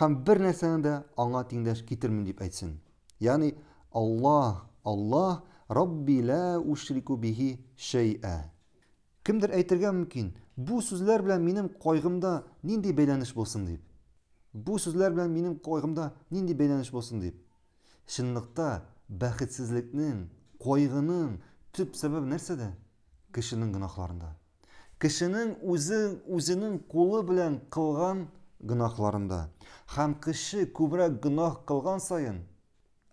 Һәм бер нәрсәне дә аңа тиңдәш китермим дип әйтсен. Ягъни, Аллаһ, Аллаһ, Рабби лә ушрику бихи шәй'ә. Кемдер әйтергә мөмкин, бу сүзләр белән минем кайгымда нинди бәйләнеш булсын дип. Бу сүзләр белән минем кайгымда нинди бәйләнеш булсын дип. Чынлыкта, бәхетсезлекнең, кайгының төп сәбәбе нәрсәдә? Кешенең гөнаһларында. кешенең үзе үзенең кулы белән кылган гөнаһларында. Һәм кеше күбрәк гөнаһ кылган саен,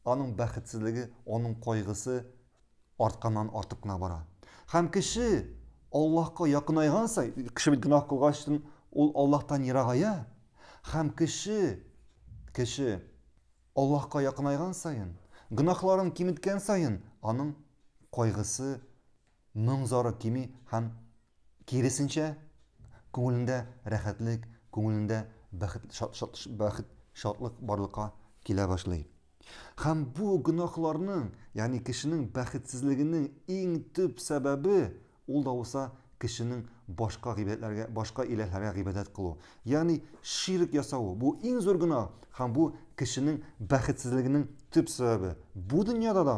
аның бәхетсезлеге, аның кайгысы артканнан артып кына бара. Һәм кеше Аллаһка якынайган саен, кеше бит гөнаһ кылгач, ул Аллаһтан ерагая. Һәм кеше кеше Аллаһка якынайган саен, гөнаһларын киметкән саен, аның кайгысы моң-зары кими һәм, киресенчә, күңелендә рәхәтлек, күңелендә бәхет, бәхет, шатлык барлыкка килә башлый. Һәм бу гөнаһларның, ягъни кешенең бәхетсезлегенең иң төп сәбәбе, ул да булса кешенең башка гыйбадәтләргә, башка иләһләргә гыйбадәт кылу, ягъни ширк ясавы. Бу иң зур гөнаһ һәм бу кешенең бәхетсезлегенең төп сәбәбе, бу дөньяда да,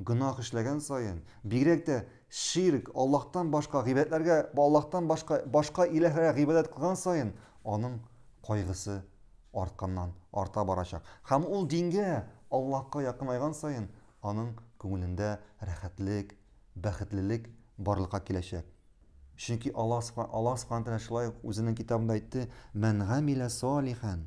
Гөнаһ эшләгән саен, бигрәк тә ширк, Аллаһтан башка гыйбадәтләргә, Аллаһтан башка, башка иләһләргә гыйбадәт кылган саен, аның кайгысы артканнан арта барачак. Һәм ул дингә, Аллаһка якынайган саен, аның күңелендә рәхәтлек, бәхетлелек барлыкка киләчәк. Чөнки Аллаһ Аллаһ Сүбхәнәһү тәгалә шулай ук Үзенең Китабында әйтте, Мән гамилә салихан.